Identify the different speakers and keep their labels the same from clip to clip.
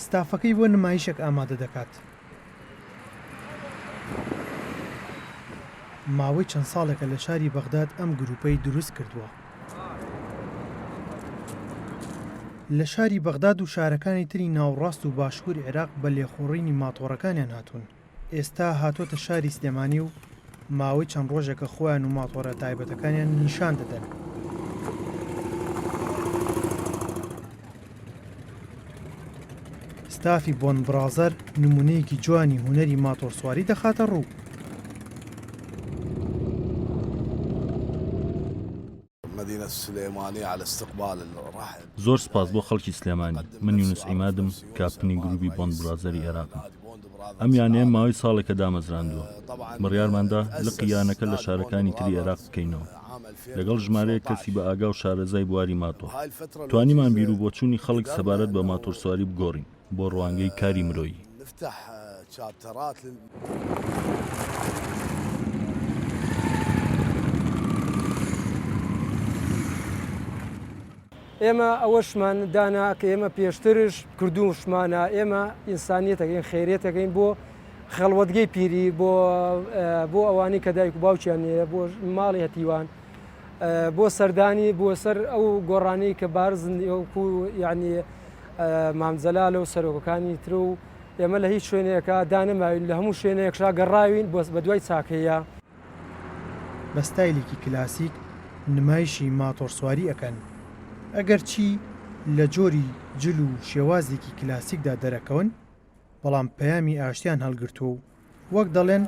Speaker 1: ستافەکەی بۆ نمایشێک ئامادە دەکات. ماوەی چەند ساڵێکە لە شاری بەغداد ئەم گرووپەی دروست کردووە. لە شاری بەغداد و شارەکانی تری ناوەڕاست و باشووری عێراق بە لێخوڕینی ماتۆڕەکانیان هاتوون. ئێستا هاتۆتە شاری سلێمانی و ماوەی چەند ڕۆژێکە خۆیان و ماتۆڕە تایبەتەکانیان نیشان دەدەن. ستافی بۆن بڕازەر نمونەیەکی جوانی هوەری ماتۆرسواری دەخاتە ڕوو.
Speaker 2: مدینە سلیمانی علی استقبال الرحب. زۆر سپاس بۆ خەڵکی سلێمانی من یونس عیمادم کاپتنی گرووبی بۆند برازەری عێراقم ئەم یانەیە ماوەی ساڵێکە دامەزراندووە بڕیارماندا لقی یانەکە لە شارەکانی تری عێراق بکەینەوە لەگەڵ ژمارەیەک کەسی بەئاگا و شارەزای بواری ماتۆڕ توانیمان بیروبۆچوونی خەڵک سەبارەت بە ماتۆرسواری بگۆڕین بۆ ڕوانگەی کاری مرۆیی.
Speaker 3: ئێمە ئەوەشمان دانا کە ئێمە پێشترش کردووشمانە ئێمە ئینسانیەتەکەین خێرێتەکەین بۆ خەڵوەتگەی پیری بۆ بۆ ئەوانەی کە دایک و باوکیان بۆ ماڵی هەتیوان بۆ سەردانی بۆ سەر ئەو گۆڕانی کە بارزن ئەوکو یعنی مامجلالە و سەرۆکەکانی تر و ئێمە لە هیچ شوێنێکە دانەماوین لە هەموو شوێنێکشا گەڕاوین بۆس بە دوای چاکەیە.
Speaker 1: بە ستایلێکی کلاسیک نمایشی ماتۆڕسواری ئەکەن ئەگەرچی لە جۆری جل و شێوازێکی کلاسیکدا دەرەکەون، بەڵام پەیامی ئاشتیان هەڵگرتووە و وەک دەڵێن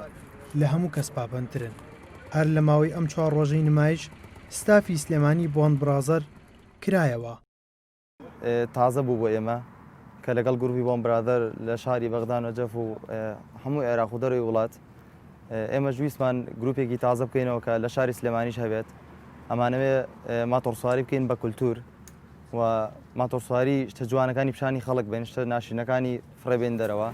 Speaker 1: لە هەموو کەس پابەندترن. هەر لە ماوەی ئەم چوار ڕۆژەی نمایش ستافی سلێمانی بۆند برازەر کرایەوە.
Speaker 4: تازە بوو بۆ ئێمە کە لەگەڵ گروپی بۆند برادەر لە شاری بەغدا و نەجەف و هەموو عێراق و دەرەوەی وڵات ئێمەش ویستمان گروپێکی تازە بکەینەوە کە لە شاری سلێمانیش هەبێت ئەمانەوێ ماتۆڕسواری بکەین بە کولتوور. و ماتۆڕسواری شتە جوانەکانی پیشانی خەڵک بێن شتە ناشینەکانی فڕێبێن دەرەوە.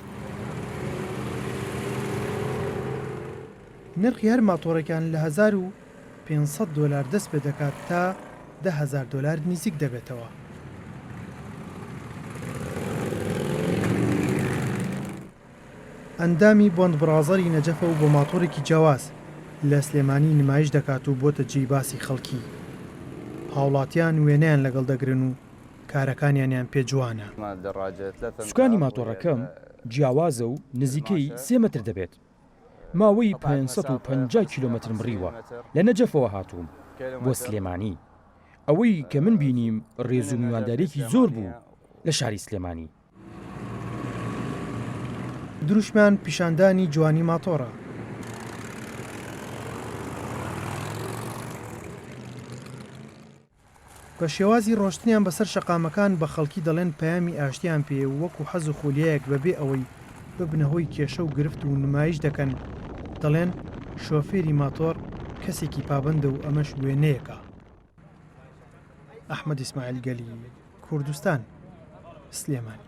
Speaker 1: نرخی هەر ماتۆڕێکیان لە هەزار و پێنج سەد دۆلار دەست پێ دەکات تا دە هەزار دۆلار نیزیک دەبێتەوە. ئەندامی بۆند بڕازەری نەجەفە و بۆ ماتۆڕێکی جیاواز لە سلێمانی نمایش دەکات و بۆتە جێی باسی خەڵکی. هاوڵاتیان وێنەیان لەگەڵ دەگرن و کارەکانیانیان پێ جوانە.
Speaker 5: سوکانی ماتۆڕەکەم جیاوازە و نزیکەی سێ مەتر دەبێت. ماوەی پێنج سەد و پەنجا کیلۆمەترم بڕیوە، لە نەجەفەوە هاتووم بۆ سلێمانی. ئەوەی کە من بینیم رێز و میوانداریەکی زۆر بوو لە شاری سلێمانی.
Speaker 1: دروشمیان پیشاندانی جوانی ماتۆڕە. بە شێوازی ڕۆشتنیان بەسەر شەقامەکان بە خەڵکی دەڵێن پەیامی ئاشتیان پێیە و وەکو حەز و خولیایەک بەبێ ئەوەی ببنە هۆی کێشە و گرفت و نمایش دەکەن دەڵێن شۆفێری ماتۆڕ کەسێکی پابەندە و ئەمەش وێنەیەکە ئەحمەد ئیسماعیل گەلی کوردستان سلێمانی.